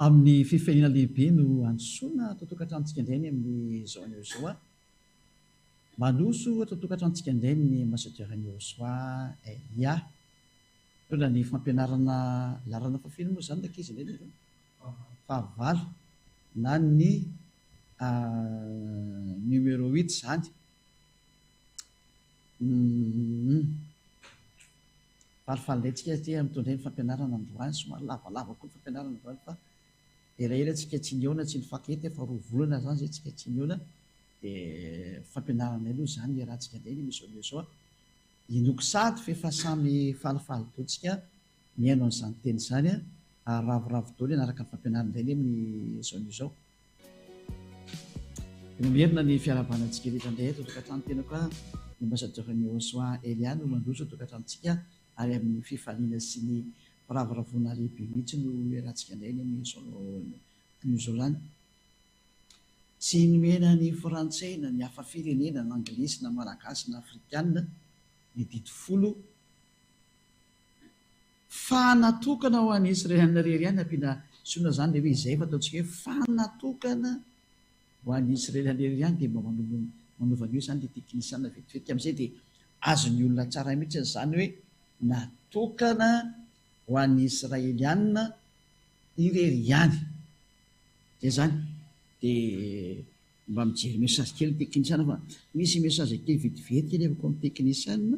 Amin'ny fifehena lehibe no androsoana ato an-tokantranontsika indray ny amin'izao anio izao a! Mandroso ato an-tokantranontsika indray ny Ambassadeur Niroswa Elia. Mitondra ny fampianarana laharana fahafeno moa izany ny ankizy indray nareo. fahavalo na ny numéro huit zany humm falifaly indray tsika aty amin'itony indray ny fampianarana androany somary lavalava koa ny fampianarana androany fa elaela tsika tsy nihaona tsy nifankaty efa roa volana zany zay tsika tsy nihaona de fampianarana indray aloha zany hiarahantsika indray ny emission anio zao inoako sady f'efa samy falifaly daholo tsika Mihaino an'izany teny izany aho ary ravoravo daholo hanaraka ny fampianarin'ilay lehy amin'izao anio izao. Dia mamerina ny fiarahabana antsika rehetra indray eto an-tokantrano tenako aho, i Ambassadeur Nihosoa Elia no mandroso eto an-tokantranotsika ary amin'ny fifaliana sy ny firavoravoana lehibe mihitsy no iarahantsika indray ny amin'izao anio izao lany. Tsy nomena ny Frantsay na ny hafa firenena na Anglisy na Malagasy na Afrikana ny didy folo, fa natokana ho an'izy iray aminy irery ihany ampiana sinoa zany le hoe izay efa ataontsika hoe fa natokana ho an'izy irery aminy irery ihany dia mba manova an'io zany le teknisiana vetivety amizay dia azon'ny olona tsara mihitsy zany hoe natokana ho an'ny israeliana irery ihany zay zany dia mba mijery message kely ny teknisiana fa misy message kely vetivety kely avy akao amin'ny teknisiana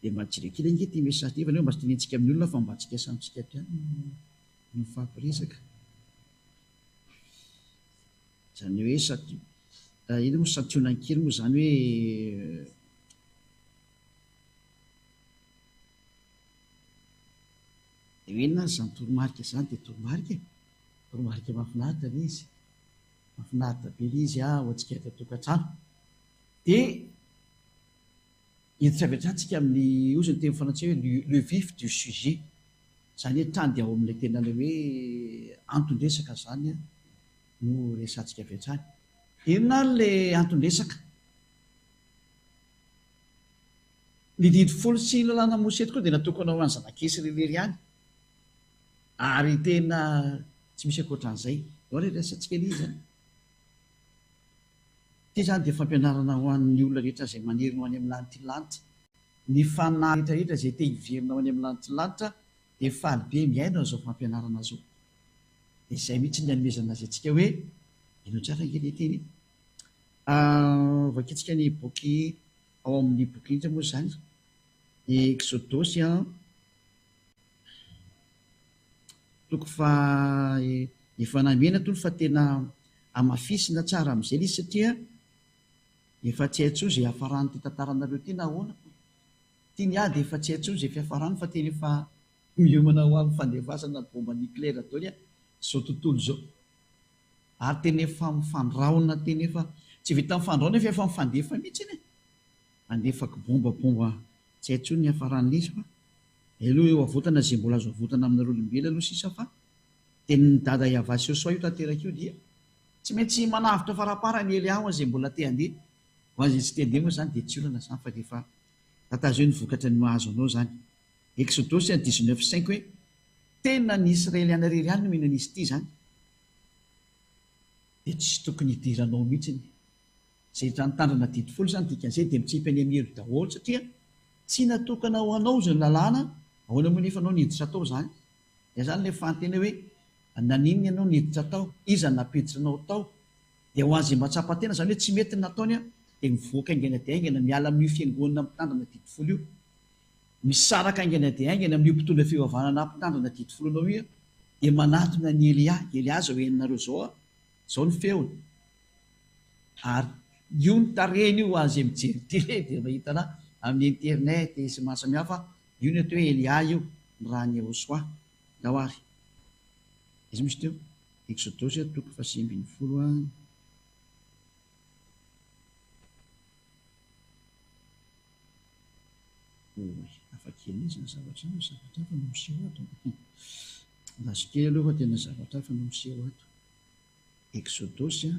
Dia mba kirakira ange ity message ity fa nefa mba tsy tenentsika amin'ny olona fa mba antsika samy tsika ihany no mifampiresaka. Izany hoe sati, inona moa santionany kely moa izany hoe dia hoe inona ary izany toromarika izany dia toromarika e. Toromarika mahafinaritra ilay izy. Mahafinaritra be ilay izy ho antsika eto an-tokantrano. Dia. Etsy avy an-tsatsika amin'ny hozy ny teny frantsay hoe le le vif du sujet, izany hoe trany ao amin'ilay tena ilay hoe anton-dresaka izany no resahantsika avy hatrany. Inona ary ilay anton-dresaka? Ny didy folo sy ny lalàna Mosesy tokoa dia natokana ho an'ny zanak'Isy irery ihany ary tena tsy misy ankoatran'izay. Ianao re resahantsika anie izany. Ity izany dia fampianarana ho an'ny olona rehetra izay maniry ny ho any amin'ny lanitry lanitra. Ny fanahy rehetrarehetra izay te hiverina ho any amin'ny lanitry lanitra dia faly be mihaino an'izao fampianarana izao. Dia izay mihitsy ny anomezana azy antsika hoe, Hainao tsara ange ilay teny e! Vakintsika ny boky ao amin'ny boky inona moa izany? Ny Eksodosy an! Toko faha efa namena tony fa tena amafisina tsara amin'izay ilay izy satria efa tsy hay intsony izay hiafaran'ity tantaranareo ity na ahoana fa ity ny ahy dia efa tsy hay intsony izay fiafarany fa tena efa miomana ho amin'ny fandevazana baomba nucléaire daholo aho izao tontolo izao ary tena efa mifandraona tena efa tsy vitan'ny fandraona fa efa mifandefa mihintsy anie handefa kibombabomba tsy hay intsony ny hiafaran'ilay izy fa Heloha eo avotana ze mbola azo avotana aminareo olombelo aloha sisa fa tenin'i dada yava sy Josoa io tanteraka io dia tsy maintsy manavotra faraparany hely aho ze mbola te handeha ho an ze tsy te handeha moa zany dia tsy olana zany fa rehefa tatazeo ny vokatra ny mahazo anao zany Exodosy a dix neuf cinq hoe tena ny Israeliana rery ihany no mino an'izy ity zany dia tsy tokony hidiranao mihitsy ny Zetra nitandrina didy folo izany dika an'izay dia mitsipy any amin'ny helo daholo satria tsy natokana ho anao izany lalàna, ahoana moa nefa ianao niditra atao izany? Dia izany ilay fanontena hoe naninona ianao niditra tao? Iza nampiditra anao tao? Dia ho an'izay mba tsapa tena izany hoe tsy mety ny nataony dia mivoaka haingana dia haingana miala amin'io fiangonana mpitandrina didy folo io. Misaraka haingana dia haingana amin'io mpitondra fivavahana mpitandrina didy folo anao io dia manatona an'i Elia, Elia zao henonareo zao aho Zao ny feony ary io ny tarehiny io hoan'izay mijery télé dia mahita ana amin'ny internet sy ny maro samihafa io ny ato hoe Elia io ny raha an'i Yehosua Ndao ary izy misy teo Eksodosy toko fahasivy ambin'ny folo a. Oy, hafa kely izy ny zavatra azo, zavatra hafa no miseho ato an! Lasa kely aloha fa tena zavatra hafa no miseho ato. Eksodosy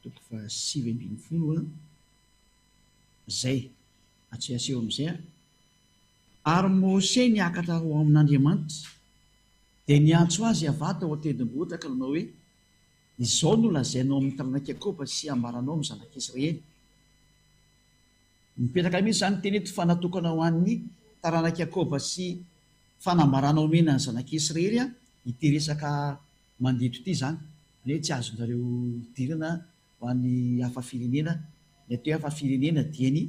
toko fahasivy ambin'ny folo an! Izay, atsy aseho amin'izay an! Ary Mose niakatra ho amin'Andriamanitra, dia niantso azy avy ato ao an-tendrombohitra ka nanao hoe, Izao no lazainao amin'ny taranak'i Jakoba sy ambaranao amin'ny zanak'Israely, Mipetraka mihitsy izany teny eto fa natokana ho an'ny taranak'i Jakoba sy fanambarana omena ny zanak'i Israely ity resaka mandeto ity izany. Izany hoe tsy azonareo idirana ho any hafa firenena. Ny atao hoe hafa firenena dia ny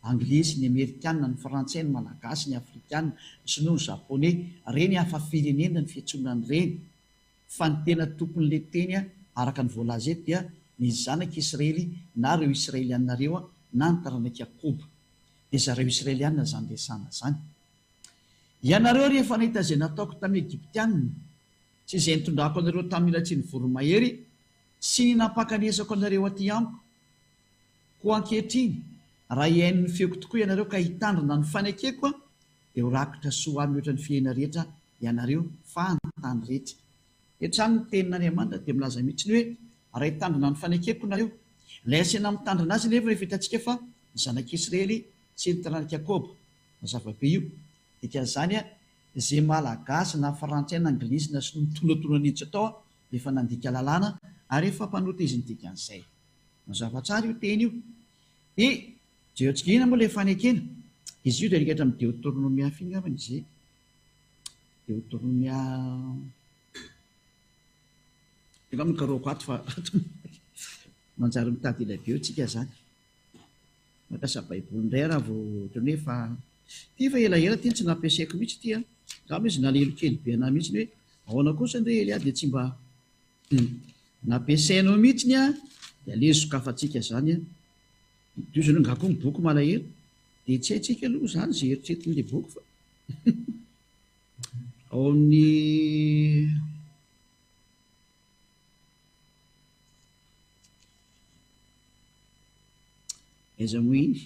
anglais sy ny amerikanina, ny frantsay, ny malagasy, ny afrikanina, ny sinoa, ny japoney. Ireny hafa firenena ny fiantsoana an'ireny. Fa ny tena tompon'le teny araka ny voalaza eto dia ny zanak'i Israely na reo Israeliana reo na ny taranak'i Jakoba. Dia zareo Israeliana zany resahana zany. Ianareo rehefa nahita zay nataoko tamin'ny Egyptiana sy zay nitondrako anareo tamin'ny latsian'ny voromahery sy ny nampakanesako anareo aty amiko. Koa ankehitriny raha hihaino ny feoko tokoa ianareo ka hitandrina ny fanekeko, Dia ho rakotra soa ahy mihoatra ny fihena rehetra ianareo fahantany rehetra. Hetrany ny tenin'Andriamanitra dia milaza mihitsy ny hoe raha hitandrina ny fanekeko nareo. Ilay hasina mitandrina azy anefa rehefa hitantsika fa ny zanak'Israely sy ny taranak'i Jakoba no zava-be io. Dikan'izany izay malagasy na frantsay na anglisy na sinoa mitonatona nihitsy atao dia efa nandika lalàna ary efa mpanota izy ny dikan'izay. Mazava tsara io teny io. Dia. Jeotsigiana moa ilay fanekena. Izy io dia alika hatramin'ny Deotornomia fy angambany izay. Deotornomia angambany karohako ato fa manjary mitady ilay beo tsika izany. Mampiasa baiboly indray raha vao ohatran'ny hoe fa ity fa elaela ity no tsy nampiasaiko mihitsy ity an. Angamba izy nalelo kely be anà mihitsy hoe ahoana kosa indray Elia dia tsy mba nampiasainao mihitsy an dia aleo sokafantsika izany an. Idiozana angaha koa ny boky malahelo dia tsy haintsika aloha izany izay eritretin'ilay boky fa ao amin'ny aiza moa iny?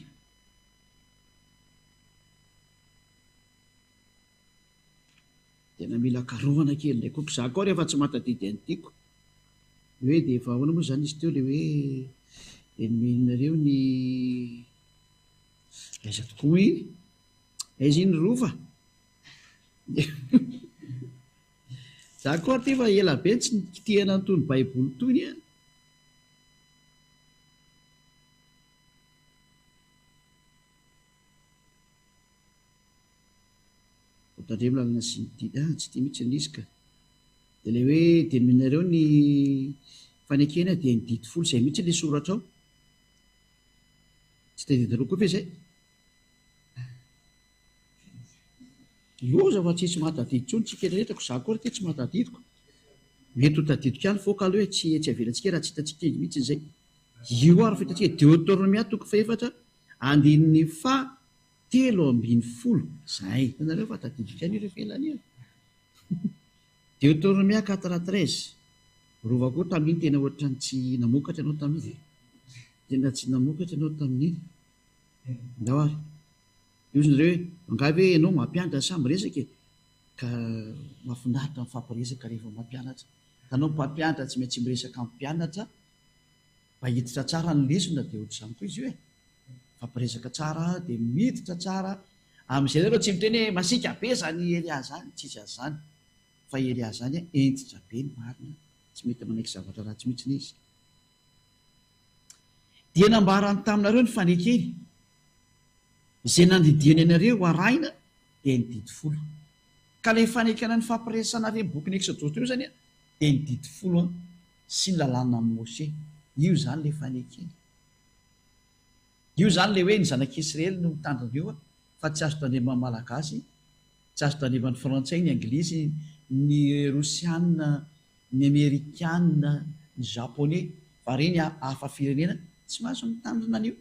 Tena mila karohana kely ilay couple, za koa rehefa tsy mahatadidy an'i Tiko ny hoe dia efa ahoana moa izany izy teo ilay hoe ennemi-nareo ny aiza tokoa iny? aiza iny Rova? za koa aty efa ela be tsy nikitihana an'itony baiboly itony an! Vao tandremo lalana sy ny dihy, ah, tsy tia mihitsy ilay izy ka! Dia ilay hoe denominareo ny fanekena dia ny didy folo izay mihitsy ilay soratra ao? Tsy tadiavinareo koa ve izay? Loza fa tsy hisy mahatadidy intsony tsika rehetra koa izaho koa ary ity tsy mahatadidiko. Mety ho tadidiko ihany foko aloha hoe tsy etsy avelantsika raha tsy hitantsika engy mihitsy izay. Io ary fa hitantsika Deotornomia toko fahefatra andininy faha telo ambin'ny folo zahay hitanareo fa tadidiko ihany ireo felana ireo Deuteronomia quatre treize rova koa tamin'iny tena ohatrany tsy namokatra ianao tamin'iny e tena tsy namokatra ianao tamin'iny ndao ary dia hozy nareo hoe angaha ve ianao mampianatra sa miresaka e ka mahafinaritra mifampiresaka rehefa mampianatra ka anao mpampianatra tsy maintsy miresaka amin'ny mpianatra Mahiditra tsara ny lesona dia otrzany koa izy io e! Mifampiresaka tsara dia miditra tsara amin'izay nareo tsy miteny hoe masiaka be zany i Elia zany, tsisy azy zany fa i Elia zany a hentitra be ny marina, tsy mety manaiky zavatra ratsy mihitsiny izy. Dia nambarany taminareo ny fanekeny izay nandidiany anareo ho arahina dia ny didy folo. Ka ilay fanekena nifampiresahana ary amin'ny bokin'ny Exodosy teo zany a dia ny didy folo a. Tsy lalàna an'i Mose. Io izany ilay fanekena. Io izany ilay hoe ny zanak'Israely no mitandrina eo fa tsy azo tandreman'ny Malagasy, tsy azo tandreman'ny Frantsay, ny Anglisy, ny Rosiana, ny Amerikana, ny Japoney fa re ny hafa firenena tsy mahazo mitandrina an'io.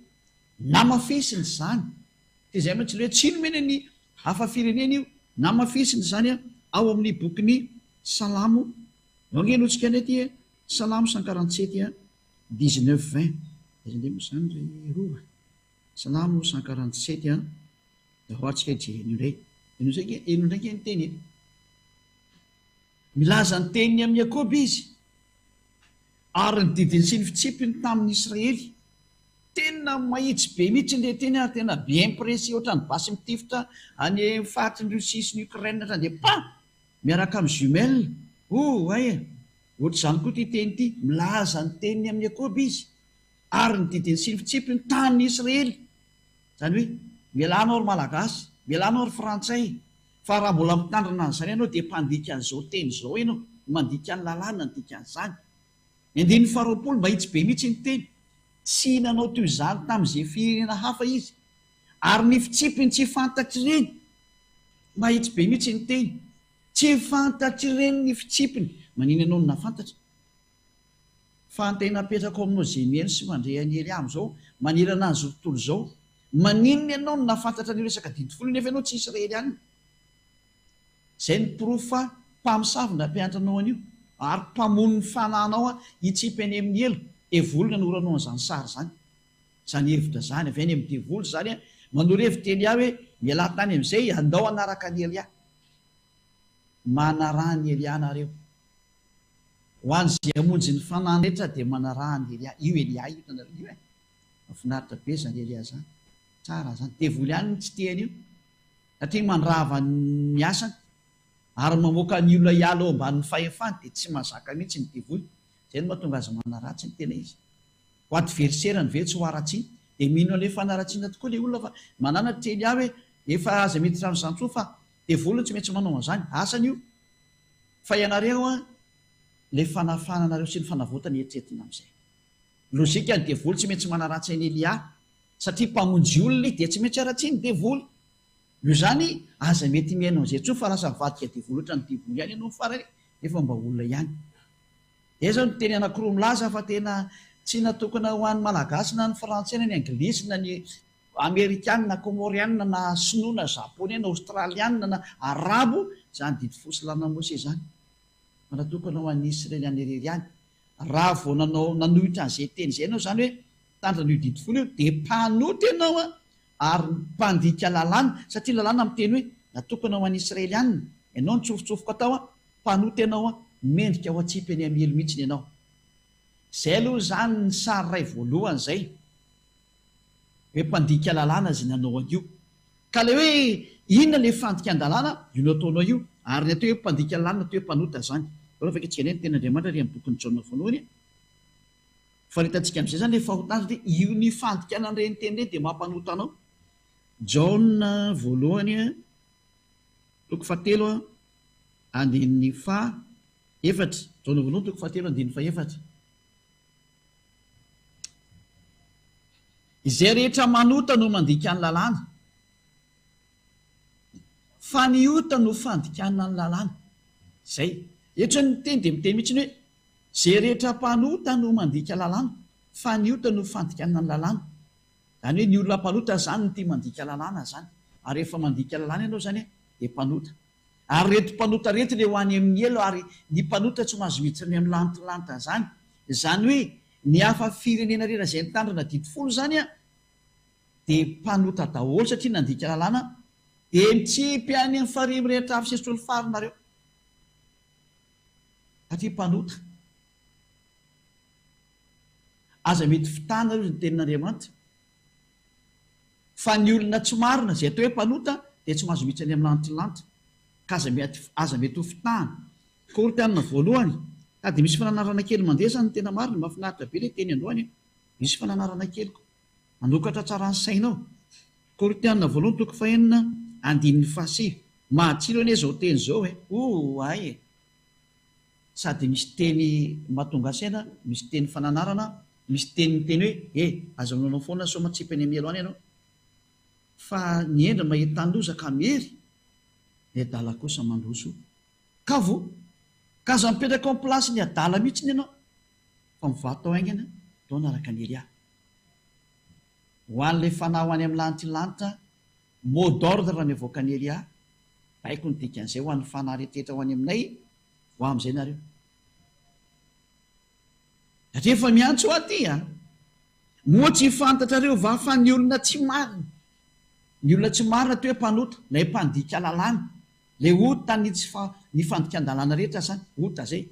Namafisina izany. Dia izay mantsy ilay hoe tsy nomena ny hafa firenena io. Namafisina izany ao amin'ny bokin'ny Salamo Mangehy loha tsika nety e. Salamo cent quarante sept et dix neuf vingt aiza indray moa izany ry Rova? Salamo cent quarante sept et dahoary tsika i Jérémie indray. Enao izay ange, enao indray ange ny teny e. Milaza ny teniny amin'i Jakoba izy ary ny didiny sy ny fitsipiny tamin'ny Israely. Tena mahitsy be mihitsy ilay teny ary tena bien précis ohatran'ny basy mitifitra any faritry ny Russie sy ny Ukraine hatrany dia pam! Miaraka amin'ny jumelle. Oh, hay e! Ohatr'izany koa ity teny ity, milaza ny teniny amin'i Jakoba izy, ary ny didin'ny sy ny fitsipy ny tanin'i Israely. Izany hoe, Mialà anao ry Malagasy, mialà anao ry Frantsay, fa raha mbola mitandrina an'izany ianao dia mpandika an'izao teny izao ianao, no mandika ny lalàna ny dikan'izany. Ny andininy faharoapolo mahitsy be mihitsy ny teny. Tsy nanao toy izany tamin'izay firenena hafa izy, Ary ny fitsipiny tsy fantatr'ireny. Mahitsy be mihitsy ny teny. Tsy fantatr'ireny ny fitsipiny. Manina ianao no nahafantatra? Fa ny tena apetrako aminao izay mihaino sy mandre an'i Elia amin'izao manerana an'izao tontolo izao. Maninona ianao no nahafantatra an'io resaka didy folo io nefa ianao tsy Israelianina? Izay no porofo fa mpamosavy nampianatra anao an'io ary mpamono ny fananao hitsipy any amin'ny helo. Devoly no nanoranao an'izany sary izany. Zany hevitra zany avy any am devoly zany a, manoro hevitra Elia hoe mialà tany amizay andao hanaraka an Elia. Manarà an Elia nareo. Ho an ze hamonjy ny fanahy rehetra de manarà an Elia. Io Elia io hitanareo io eh. Mafinaritra be zany Elia zany. Tsara zany. Devoly any no tsy te anio. Satria mandrava ny asany. Ary mamoaka ny olona hiala ao ambanin ny fahefany de tsy mazaka mihitsy ny devoly. Zay no mahatonga azy manarà tsy ny tena izy. ho adversaire-ny ve tsy ho haratsiana dia mino an'ilay fanaratsiana tokoa ilay olona fa manana teny ahy hoe efa aza miditra amin'izany intsony fa devoly no tsy maintsy manao an'izany, asany io fa ianareo an ilay fanafahana anareo sy ny fanavotana eritreretina amin'izay logique ny devoly tsy maintsy manaratsy an'i Elia satria mpamonjy olona izy dia tsy maintsy haratsian'ny devoly io izany aza mety mihaino an'izay intsony fa lasa mivadika devoly ohatran'ny devoly ihany ianao farany nefa mba olona ihany. Dia izao ny teny anankiroa milaza fa tena tsy natokana ho an'ny Malagasy na ny Frantsay na ny Anglisy na ny Amerikana na Kômôriana na Sinoa na Japoney na Ôstraliana na Arabo izany didy fo sy lalana Mosesy izany fa natokana ho an'ny Isreliana irery ihany. Raha vao nanao nanohitra an'izay teny izay ianao izany hoe mitandrina an'io didy folo io dia mpanota ianao an! ary mpandika lalàna, satria ny lalàna miteny hoe, Natokana ho an'ny Israelianina ianao, nitsofotsofoko atao aho, mpanota ianao aho, mendrika ho atsipy an'i Amiely mihitsiny ianao. Izay aloha izany ny sary iray voalohany izay hoe mpandika lalàna izay nanao an'io. Ka ilay hoe inona ilay fandikan-dalàna, io nataonao io, ary ny atao hoe mpandika lalàna, atao hoe mpanota izany. Raha vao afaka tsika indray ny tenin'Andriamanitra ary amin'ny bokin'i Jaona voalohany, Fa ny hitantsika amin'izay izany ilay fahotana satria io ny fandikana an'ireny teny ireny dia mampanota anao. Jaona voalohany toko fahatelo andininy faha efatra. Jaona voalohany toko fahatelo andininy faha efatra. Izay rehetra manota no mandika ny lalàna. Fa ny ota no fandikana ny lalàna. Izay. Eto izany ny teny dia miteny mihitsy hoe. Izay rehetra mpanota no mandika lalàna, fa ny ota no fandikana ny lalàna. Izany hoe ny olona mpanota izany no tia mandika lalàna izany. Ary rehefa mandika lalàna ianao izany dia mpanota. Ary ireto mpanota ireto dia ho any amin'ny helo ary ny mpanota tsy mahazo miditra any amin'ny lantolanta izany. Izany hoe ny hafa firenena rehetra izay nitandrina didy folo izany dia mpanota daholo satria nandika lalàna dia mitsipy any amin'ny farihy mirehitra hafa sy esotrolofary nareo. Satria mpanota. Aza mety fitana hozy ny tenin'Andriamanitra. Fa ny olona tsy marina izay atao hoe mpanota dia tsy mahazo mihitsy any amin'ny lanitry ny lanitra. Ka aza mety aza mety ho fitahana. Korintiana voalohany, Ka dia misy fananarana kely mandresy izany ny tena marina, mahafinaritra be ilay teny androany a! Misy fananarana kely koa. Manokatra tsara ny sainao. Korintiana voalohany toko fahenina andininy fahasivy. Matsilo anie zao teny zao e! Ooh ay e! Sady misy teny mahatonga saina, misy teny fananarana, misy teny miteny hoe e! aza manao foana sao matsipy any mialoha any ianao. Fa ny hendry mahita ny loza ka miery, ny adala kosa mandroso. Kavo! Ka aza mipetraka ao am-place ny adala mihitsiny ianao. fa mivaha tao haingana tao naraka an'i Elia. Ho an'ilay fanao any amin'ny lanitry ny lanitra, mot d'ordre ny avoakan'i Elia, baiko ny dikan'izay ho an'ny fanahy rehetra ho any aminay, voa amin'izay nareo. Satria efa miantso aty a. Moa tsy fantatrareo va fa ny olona tsy marina, ny olona tsy marina toy hoe mpanota, ilay mpandika lalàna, ilay ota ny tsy fa, ny fandikan-dalàna rehetra zany, ota zay.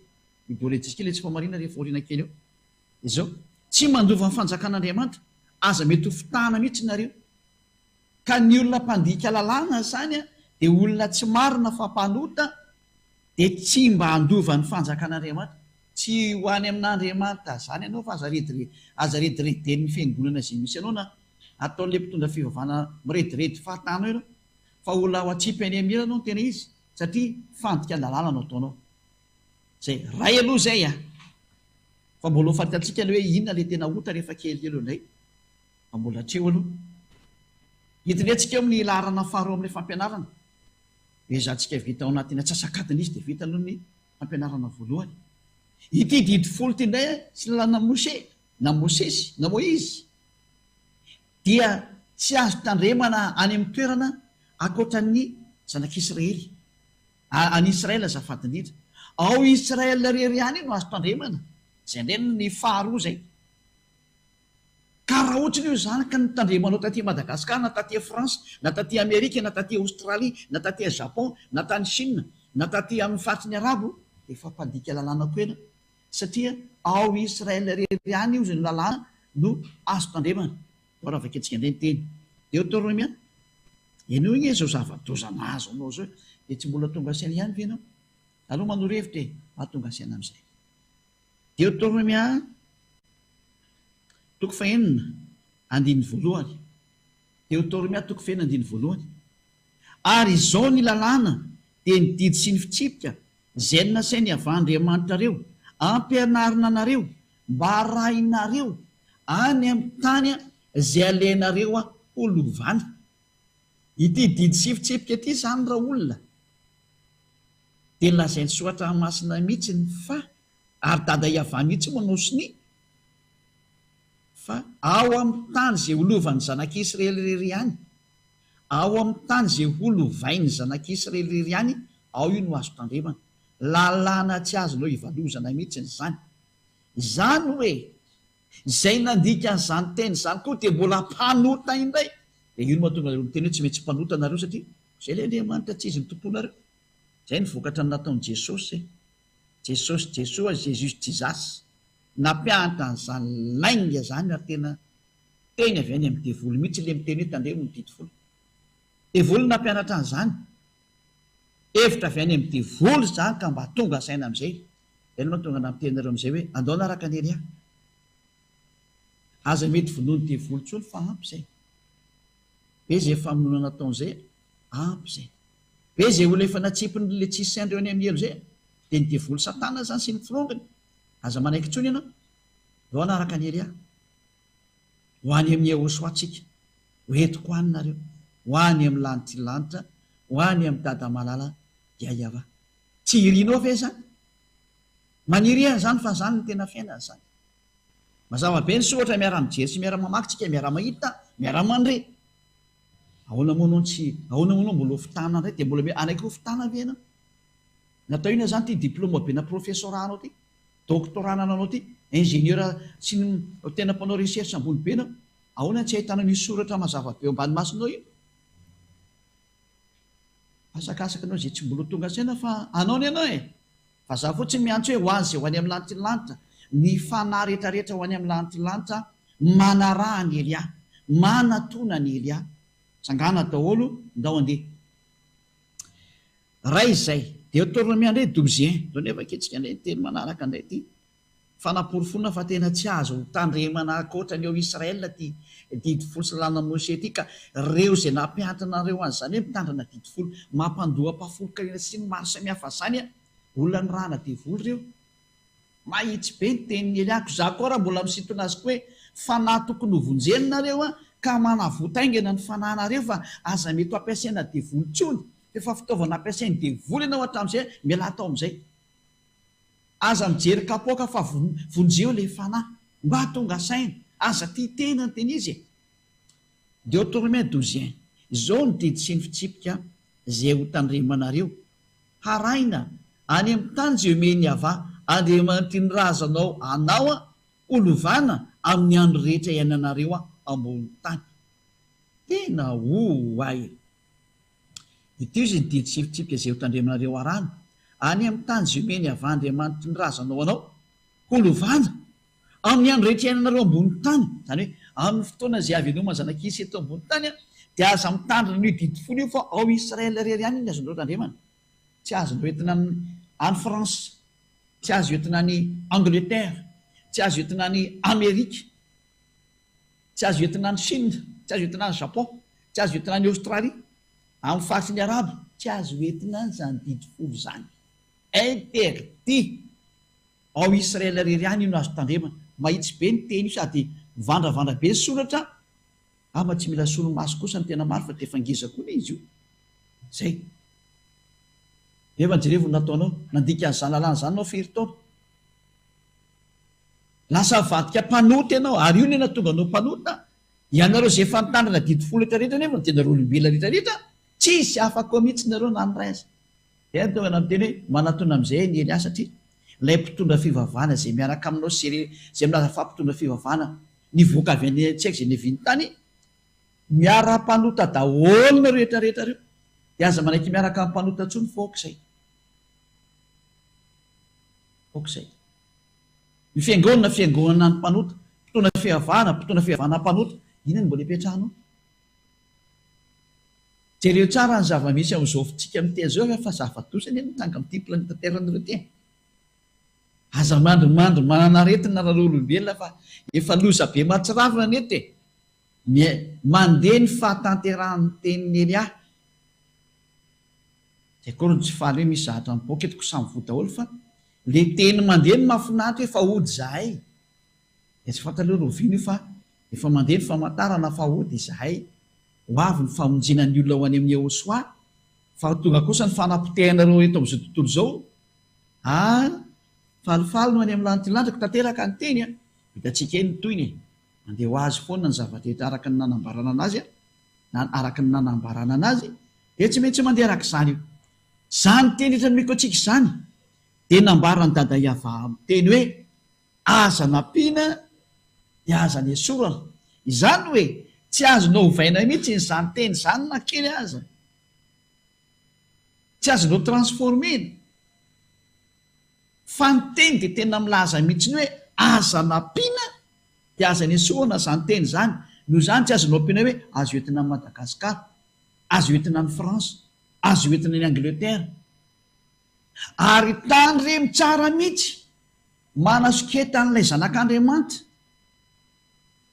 Idôlejika ilay tsy fahamariana rehefa aoriana kely eo. Izao, tsy mandova ny fanjakan'Andriamanitra, aza mety ho fitahana mihitsy nareo. Ka ny olona mpandika lalàna izany dia olona tsy marina fa mpanota dia tsy mba handova ny fanjakan'Andriamanitra. Tsy ho any amin'Andriamanitra izany ianao fa aza rediredy, aza redireden'ny fiangonana izay misy anao na ataon'ilay mpitondra fivavahana mirediredy fahatànao ianao fa ho laho atsipy any amin'irany ao ny tena izy satria fandikan-dalàna no ataonao. Zay, ray aloha zay a! Fa mbola ho fantantsika aloha hoe inona ilay tena ota rehefa kely eo ilay lay, fa mbola hatreo aloha. Hidinetsika eo amin'ny laharana faharoa amin'ilay fampianarana. Ezahantsika vita ao anatin'ny atsasak'adiny izy dia vita aloha ny fampianarana voalohany. Ity didy folo ity indray sy ny lalana Moshe, na Mosesy, na Moizy, dia tsy azo tandremana any amin'ny toerana ankoatran'ny zanak'Israely. Any Israel azafady indrindra. Ao Israel irery ihany no azo tandremana izay indray no ny faha roa izay ka raha ohatry ny hoe izany ka ny tandremanao taty Madagascar na taty France na taty Amerika na taty Australie na taty Japon na tany Chine na taty amin'ny faritry ny Arabo dia efa mpandika lalàna koa ianao satria ao Israel irery ihany io izay no lalàna no azo tandremana. Vao raha vakiantsika indray ny teny. Deoteronomia, Ianao ange izao zava-doza mahazo anao izao e! Dia tsy mbola tonga saina ihany ve ianao? Aleo manoro hevitra e! Mba tonga saina amin'izay. Deoteronomia toko fahenina andininy voalohany. Deoteronomia toko fahenina andininy voalohany. Ary izao ny lalàna, dia ny didy sy ny fitsipika, izay nasainy avy Andriamanitrareo, ampianarina anareo, Mba arahinareo any amin'ny tany izay alehanareo ho lovany. Ity didy sy fitsipika ity izany raha olona dia lazain'ny soratra masina mihitsiny fa ary dada Yavah mihitsy moa no sonia fa ao amin'ny tany izay ho lovan'ny zanak'Israely irery ihany, ao amin'ny tany izay ho lovain'ny zanak'Israely irery ihany, ao io no azo tandremana. Lalàna tsy azonao ivalozana mihitsiny izany. Izany hoe izay nandika an'izany teny izany koa dia mbola mpanota indray. Dia io no mahatonga anareo miteny hoe tsy maintsy mpanota nareo satria izay ilay Andriamanitra tsy izy no tomponareo. Izay no vokatra ny nataon'i Jesosy e. Jesosy Jesoa, Jesus Jesus, nampiahatra an'izany lainga izany ary tena teny avy any amin'ny devoly mihitsy ilay miteny hoe tandremo ny didy folo. Devoly no nampianatra an'izany. Hevitra avy any amin'ny devoly izany ka mba tonga saina amin'izay Izay no mahatonga nampiteny anareo amin'izay hoe, andao hanaraka an'i Elia. Aza mety vonoin'ny devoly intsony fa ampy izay. Be izay famonoana nataony izay, ampy izay. Be izay olona efa natsipiny ilay tsy saint reo any amin'ny helo izay, dia ny devoly satana izany sy ny firongony. Aza manaiky intsony ianao. Andao hanaraka an'i Elia. Ho any amin'i Yehosua tsika. Ho entiko any nareo. Ho any amin'ny lanitry ny lanitra, ho any amin'i Dada malala, Yayavah. Tsy irinao ve izany? Maniry an'izany fa izany no tena fiainana izany. Mazava be ny soa ohatra miara-mijery sy miara-mamaky tsika, miara-mahita, miara-mandre. Ahoana moa no tsy, ahoana moa no mbola ho fitana indray? Dia mbola mety hanaiky ho fitana ve ianao? Natao inona izany ity diploma be na professora anao ity? Doctorat anananao ity? Ingénieur sy ny tena mpanao recherche ambony be ianao? Ahoana no tsy ahitanao io soratra mazava be eo ambany masonao io? Asakasaka anao izay tsy mbola ho tonga saina fa anao ny anao e! Vazaha fotsiny miantso hoe ho any izay ho any amin'ny lanitry ny lanitra, ny fanahy rehetrarehetra ho any amin'ny lanitry ny lanitra manaraha an'i Elia, manatona an'i Elia. Tsangana daholo, ndao andeha. Ray izay, dia tournoi indray douze un, zao nefa akia tsika indray ny telo manaraka indray ity. Fanaporofoana fa tena tsy azo hotandremana ankoatra ny ao Israël ity didy folo salanan'i Moshe ity ka reo izay nampiantona an'reo an'izany hoe mitandrina didy folo mampandoa ampahafolon-karena sy ny maro samihafa zany a! olona nirahana devoly reo. Mahitsy be ny tenin'i Eliako. Izaho koa ary mbola misintona azy koa hoe fanahy tokony ho vonjeny nareo an! ka manavota haingana ny fanahinareo fa aza mety ho ampiasaina devoly intsony! f'efa fitaovana ampiasain'ny devoly ianao hatramin'izay an! mialà tao amin'izay. Aza mijery kapoaka fa vonjeo le fanahy mba tonga saina, aza tia tena ny tena izy e! Deotorme douzien, izao ny didy sy ny fitsipika izay ho tandremanareo, Haraina any amin'ny tany izay omen'i Yavah Andriamanitr'i ny razanao anao an, ho lovana amin'ny andro rehetra iainanareo ambony tany. Tena oay! Ity izy ny didy sy fitsipika izay hotandremanareo arahina, any amin'ny tany izay omeny avy Andriamanitry ny razanao anao ho lovana, amin'ny andro rehetra iainanareo ambony tany, izany hoe amin'ny fotoana izay haveloman'ny zanak'isa eto ambony tany, dia aza mitandrina an'io didy folo io fa ao Israël irery ihany no azonareo tandremana, tsy azo hoentina any France, tsy azo entina any Angleterre, tsy azo entina any Amerika. Tsy azo entina any Chine, tsy azo entina any Japon, tsy azo entina any Australie, amin'ny faritry ny Arabo, tsy azo entina any izany didy folo izany. Interdit! Ao Israel irery ihany io no azo tandremana. Mahitsy be ny teny io sady mivandravandra be ny soratra, ama tsy mila solomaso kosa ny tena maro fa dia efa ngeza koa le izy io. Zay. Nefa jerevo ny nataonao, nandika an'izany lalàna izany nao firy taona? Lasa avadika mpanota ianao ary io no nahatonga anao mpanota. Ianareo izay efa nitandrina adidy folo hekitra rehetra anefa no tena rolimbila rehetra rehetra, tsisy afa koa mihitsy nareo na ny ray aza. Dia ny tonga nanoteny hoe, manatona amin'izay anie ny ahy satria ilay mpitondra fivavahana izay miaraka aminao sy ireo izay milaza fa mpitondra fivavahana nivoaka avy any an-tsehaka izay niaviany tany, miara-mpanota daholo nareo rehetra rehetra ireo, dia aza manaiky miaraka amin'ny mpanota intsony fa aoka izay. Aoka izay. Ny fiangonana, fiangonana an'ny mpanota, mpitona fihavana, mpitona fihavana mpanota, inona no mbola ipetrahanao? Jereo tsara ny zava-misy ao Zôfintsika amin'ity azy zao fa zava-doza anie no mitranga amin'ity planeta Terre anareo ity e! Aza mandrimandry manan'aretina ry olombelona fa efa loza be mahatsiravina ny eto e! Ny mandeha ny fahatanterahan'ny tenin'i Elia. Dia akory no tsy faly hoe misy zahatra mipoaka eto ko samy voa daholo fa le teny mandeha no mafinaritra hoe fa hody zahay dia tsy fantatra hoe roviana io fa efa mandeha ny famantarana fa hody izahay ho avy ny famonjena ny olona ho any amin'ny Ehosoa fa ho tonga kosa ny fanapotehanareo eto amin'izao tontolo izao ah falifaly no any amin'ny lanitra lanjako tanteraka ny teny an hitantsika eny ny tohiny e mandeha ho azy foana ny zava-drehetra araka ny nanambarana anazy an na araka ny nanambarana anazy Dia tsy maintsy mandeha araka izany io. Izany teny eto anomeko antsika izany dia nambaran'i Dada i Avaham teny hoe aza nampiana dia aza nesorana. Izany hoe tsy azonao ovaina mihitsy izany teny izany na kely aza. Tsy azonao transformer-na. Fa ny teny dia tena milaza mihitsy hoe aza nampiana dia aza nesorana izany teny izany. Noho izany tsy azonao ampiana hoe azo entina amin'i Madagasikara. Azo entina any France, azo entina any Angleterre. Ary tandremo tsara mitsy, manasoketa an'ilay zanak'Andriamanitra,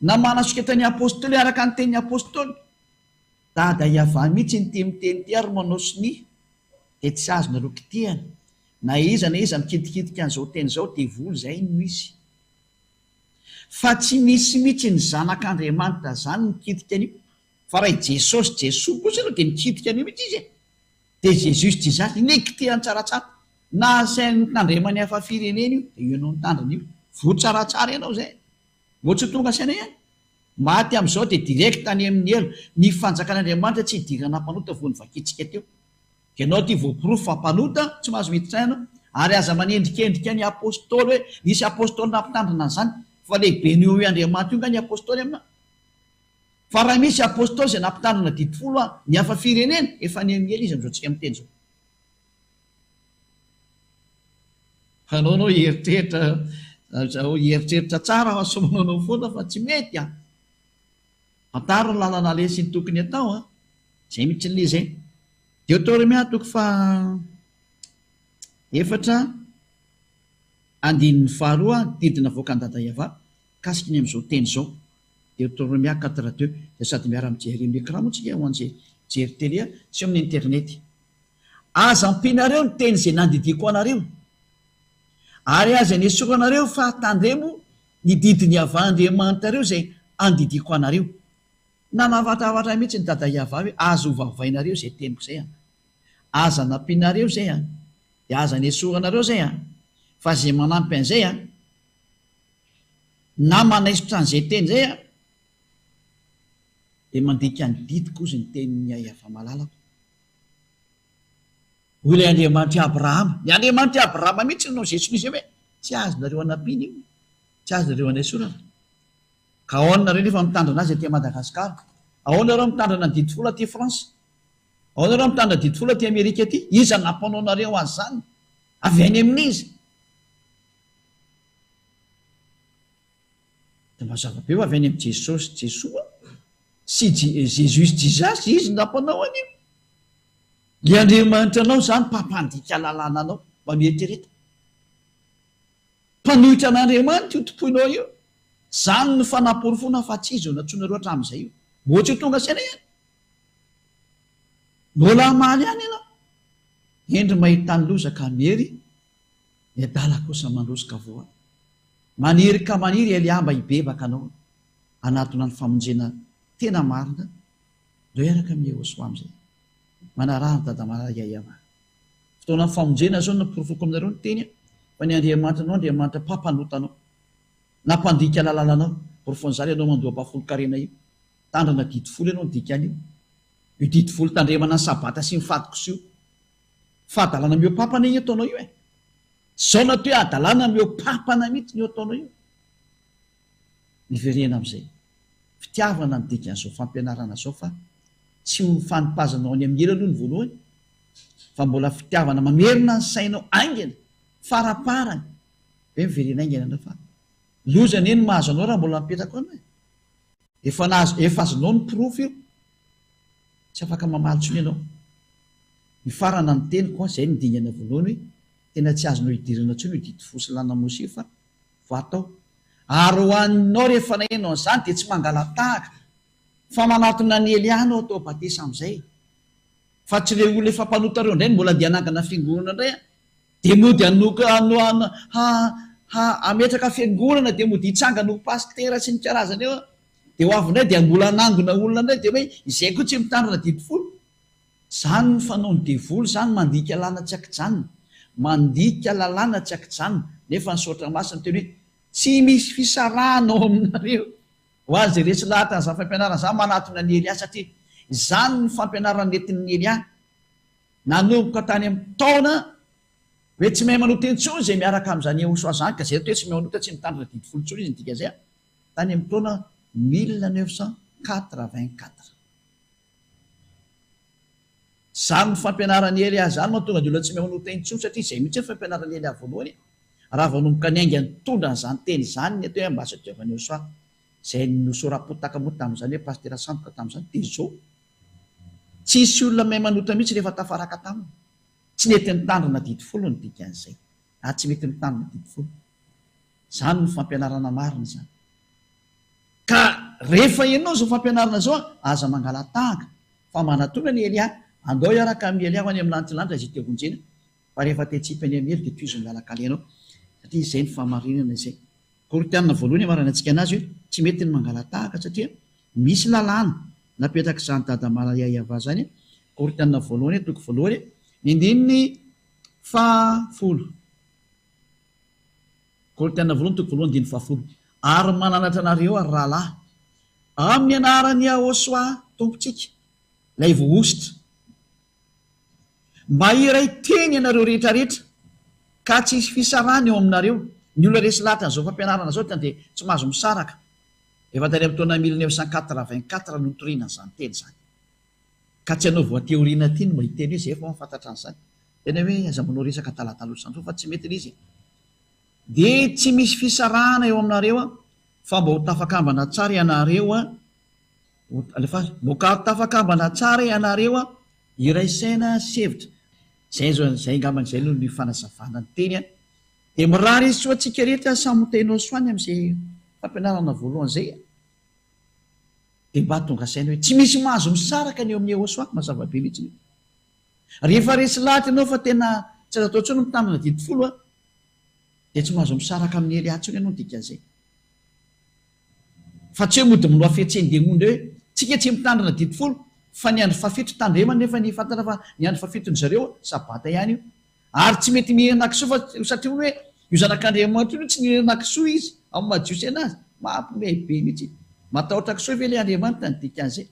na manasoketa ny Apostoly araka ny tenin'ny Apostoly. Dada Yavah mitsy no tia miteny ity ary manao sonia, dia tsy azonareo kitihana. Na iza na iza mikitikitika an'izao teny izao, devoly izay no izy. Fa tsy misy mitsy ny zanak'Andriamanitra zany mikitika an'io. Fa raha i Jesosy, Jesoa, kosa aloha dia mikitika an'io mihitsy izy e! Dia Jesus disait inectean tsaratsara, na asainy mitandrema ny hafa firenena io, dia io ianao mitandrina io, voa tsaratsara ianao izay! Moa tsy ho tonga saina ihany? Maty amin'izao dia direct any amin'ny helo, ny fanjakan'Andriamanitra tsy hidirana mpanota voa novakintsika teo. Ianao ity voaporofo fa mpanota, tsy mahazo miditra any ianao, ary aza manendrikendrika ny Apostoly hoe nisy Apostoly nampitandrina an'izany, fa lehiben'io eo Andriamanitra io nga ny Apostoly aminao? Fa raha misy apostoly izay nampitandrina didy folo an ny hafa firenena efa nihamiely izy amin'izao tsika miteny izao. Anao anao hieritreritra zao hieritreritra tsara fa sao manao anao foana fa tsy mety an! Fantaro ny lalana aleha sy ny tokony atao an! Zay mitsy ny lezay. Deotoremia toko faha efatra andininy faharoa didy navoakan'i Dada Yavah mikasiky ny amin'izao teny izao. Deuteronomia quatre deux dia sady miara mijery amin'ny ecran moa tsika eo an'izay mijery tele sy eo amin'ny internet. Aza ampianareo ny teny izay nandidiako anareo, ary aza nesoranareo fa tandremo ny didy Niavah Andriamanitrareo izay andidiako anareo. Nanavatravatrany mihitsy ny Dada Iavah hoe aza hovavainareo izay teniko izay an! Aza anampianareo izay an! Dia aza nesoranareo izay an! Fa izay manampy an'izay an! Na manaisotra an'izay teny izay aho dia mandika ny didy kozy ny tenin'i Yahya fa malalako. Hoy ilay Andriamanitr'i Abrahama, ny Andriamanitr'i Abrahama mihitsy no izay sonia izay hoe tsy azonareo anampiana io, tsy azonareo anaisorana. Ka ahoana nareo nefa mitandrina azy aty Madagasikara? Ahoana nareo mitandrina ny didy folo aty France? Ahoana nareo mitandrina didy folo aty Amerika aty? Iza nampanaonareo azy izany? Avy any amin'iza? Dia mazava be ho avy any amin'i Jesosy, Jesoa, sy Jesus, Jesus, Izy nampanao an'io. Ilay Andriamanitra anao izany mpampandika lalàna anao, mba mieritrereta. Mpanohitra an'Andriamanitra io tompoinao io, izany no fanaporofoana fa tsy Izy no nantsoinareo hatramin'izay io. Mbola tsy ho tonga saina ihany. Mbola hamaly ihany ianao. Hendry mahita ny loza ka miery Ny adala kosa mandroso ka voany. Maniry ka maniry i Elià mba hibebaka anao hanatona ny famonjena tena marina Ndao hiaraka amin'i Iehoswa amin'izay. Manaraha an'i Dada Marary ahy ianà. Fotoanan'ny famonjena izao no noporofoko aminareo ny teny aho fa ny Andriamanitra anao Andriamanitra mpampanota anao na mpandika lalàna anao. Porofon'izany ianao mandoa-ba folon-karena io. Tandrana didy folo ianao ny dikan'io. Io didy folo tandremana ny sabata sy ny fahatokiso io. Fa adalana mihoapapana io ataonao io e! Tsy zao na to hoe adalana mihoapapana mitsy ny io ataonao io! Miverena amizay fitiavana ny dikan'izao fampianarana zao fa tsy ho ny fanipazanao any amin'ny hira aloha ny voalohany fa mbola fitiavana mamerina ny sainao aingana faraparany ve miverena aingana ianao fa loza anie ny mahazo anao raha mbola mipetraka ao ianao e! Efa nahazo efa azonao ny porofo io tsy afaka mamaly tsony ianao hifarana ny teniko a zay ny dingana voalohany hoe tena tsy azonao hidirana tsony io didy fo sy lana mosy io fa vato ao ary ho anao rehefa naheno an'izany dia tsy mangalatahaka fa manatona an'i Eliana ho atao batesa amizay fa tsy le olona efa mpanota reo ndray no mbola andeha hanangana fiangonana ndray a! Dia mody hanoka ha hametraka fiangonana dia mody hitsangana ho pasitera sy ny karazany eo dia ho avy indray dia mbola hanangona olona indray dia hoe izay koa tsy mitandrina didy folo izany ny fanaon'ny devoly izany mandika lana tsy akijanona mandika lalàna tsy akijanona nefa ny soratra masina miteny hoe tsy misy fisarahana ao aminareo ho azy iretsy lahatra izany fampianarana izany manatona an'i Elia satria izany ny fampianarana nentin'i Elia Nanomboka tany amin'ny taona hoe tsy mahay manota intsony izay miaraka amin'izany Yehosua izany ka izay atao hoe tsy mahay manota tsy mitandrina didy folo intsony izy ny dika izay tany amin'ny taona mille neuf cent quatre-vingt-quatre. Izany fampianaran'i Elia izany mahatonga ny olona tsy mahay manota intsony satria izay mihitsy ny fampianaran'i Elia voalohany raha vao nanomboka niainga nitondra an'izany teny izany ny atao hoe ambasadiovan'i Yehosua izay nosora-potaka moa tamin'izany hoe pasitera sandoka tamin'izany dia izao Tsy hisy olona mahay manota mihitsy rehefa tafaraka taminy. Tsy nety nitandrina didy folo ny dikan'izay, ary tsy mety mitandrina didy folo. Izany no fampianarana marina izany. Ka rehefa henonao izao fampianarana izao, aza mangala-tahaka, fa manatona an'i Elia, andao hiaraka amin'i Elia ho any amin'ny lantilanitra izay te-honjena. Fa rehefa te hitsipy an'i Emily dia tohizo ny lalan-kalenao satria izay no fahamarinana izay Korintiana voalohany amaranan-tsika anazy hoe tsy mety ny mangalatahaka satria misy lalàna napetrak'izany dada malaria i Ava izany Korintiana voalohany toko voalohany ny andininy faha folo Korintiana voalohany toko voalohany andininy faha folo ary mananatra anareo ary rahalahy amin'ny anaran'i Yahoshuah Tompontsika ilay voahosotra Mba hiray teny ianareo rehetra rehetra ka tsy hisy fisarahana eo aminareo. Ny olona resy lahatra an'izao fampianarana izao tena dia tsy mahazo misaraka. Efa tany amin'ny taona mille neuf cent quatre vingt quatre no nitoriana an'izany teny izany. Ka tsy ianao voatery ho liana aty no mba hiteny hoe izay efa mahafantatra an'izany. Tena hoe aza manao resaka talatalosan-droa fa tsy mety ilay izy e. Dia tsy misy fisarahana eo aminareo fa mba ho tafakambana tsara ianareo Alefaso. Mokary tafakambana tsara ianareo an! Iray saina sy hevitra. Zay zao, zay ngambany zay no ny fanazavana ny teny an! Dia mirary izy soa antsika rehetra samy ho tena ho soany amin'izay fampianarana voalohany izay an! Dia mba tonga saina hoe tsy misy mahazo misaraka ny eo amin'ny Yehosoa, mazava be mihitsy io. Rehefa resy lahatra ianao fa tena tsy azo atao intsony ny mitandrina didy folo an! Dia tsy mahazo misaraka amin'i Elia intsony ianao ny dikan'izay. Fa tsy hoe mody minoa fihetsehany dia mody hoe tsika tsy mitandrina didy folo fa ny andro fahafito tandremo anefa ny fantatra fa ny andro fahafito ny zareo sabata ihany io ary tsy mety mihinana kisoa fa satria hono hoe io zanak'Andriamanitra io no tsy nihinana kisoa izy amin'ny maha jiosy anazy mampiomehy be mihitsy matahotra kisoa ve ilay Andriamanitra ny dikan'izay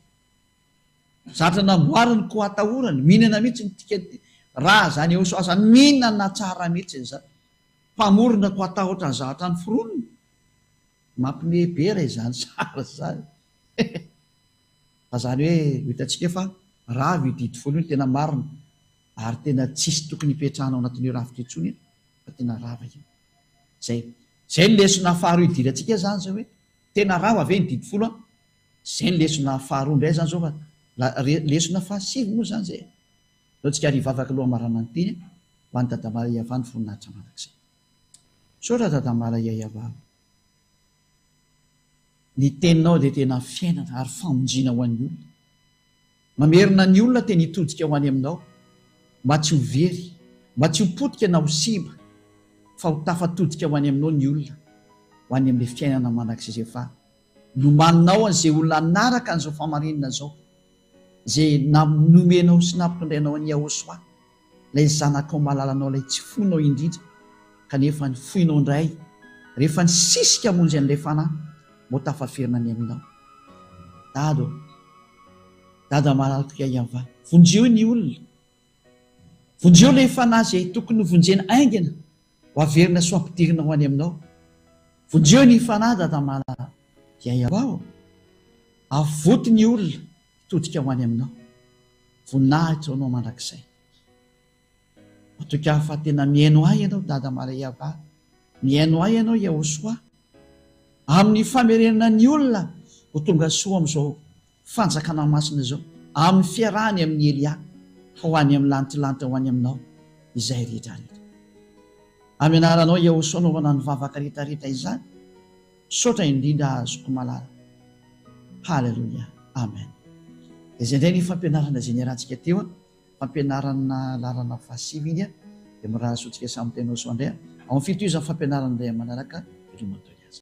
zatra namboariny koa atahorany mihinana mihitsy ny tika raha zany Eosoa zany mihinana tsara mihitsy ny zatra mpamorona koa atahotra ny zavatra noforoniny Mampime be ra izany sary izany he he. Fa zany hoe ho hitantsika fa rava io didy folo io ny tena marina ary tena tsisy tokony hipetrahana ao anatin'io rafitra io tsony fa tena rava io. Zay zay ny lesona faharoa idirantsika zany zao hoe tena rava ve ny didy folo an? Zay ny lesona faharoa ndray zany zao fa la re lesona faha sivy moa zany zay e. Aleontsika ary hivavaka aloha hamaranana ny teny ho an'i Dada Maria Vano voninahitra mandrakizay. Misaotra Dadambara Yayavava. Ny teninao dia tena fiainana ary famonjena ho an'ny olona. Mamerina ny olona te ny hitodika ho any aminao mba tsy ho very, mba tsy ho potika na ho simba fa ho tafatodika ho any aminao ny olona ho any amin'ilay fiainana mandrakizay fa Lomaninao an'izay olona hanaraka an'izao fahamarinana izao, izay nomenao sy nampitondrainao an'i Yahoshuah, ilay Zanakao malalanao, ilay tsy foinao indrindra, kanefa ny foinao indray rehefa nisisika hamonjy an'ilay fanahy mba ho tafaverina ny Aminao. Dada ô! Dada malala toy ahy Yavah, vonjeo ny olona Vonjeo ilay fanahy izay tokony hovonjena haingana ho averina sy ho ampidirina ho any aminao. Vonjeo ny fanahy Dada Mala Yayaba ô! Avoty ny olona hitodika ho any aminao. Voninahitra ho anao mandrakizay. Matoky ahy fa tena mihaino ahy ianao Dada Mala Yayaba. Mihaino ahy ianao Yahosoa. Amin'ny famerenana ny olona ho tonga soa amin'izao Fanjakana Masina izao, amin'ny fiarahany amin'i Elia, ho any amin'ny lantilanty ho any aminao izay rehetrarehetra. Amin'ny anaranao Iaosoa anaovana ny vavaka rehetrarehetra izany, misaotra indrindra Zokiko malala. Haleloia. Amen. Dia izay indray ny fampianarana izay niarahantsika teo an, fampianarana lalana fahasivy iny an, dia mirary soa antsika samy Tainao soa indray an, ao amin'ny fitohizan'ny fampianarana indray amin'ny manaraka, veloma toy ny azy.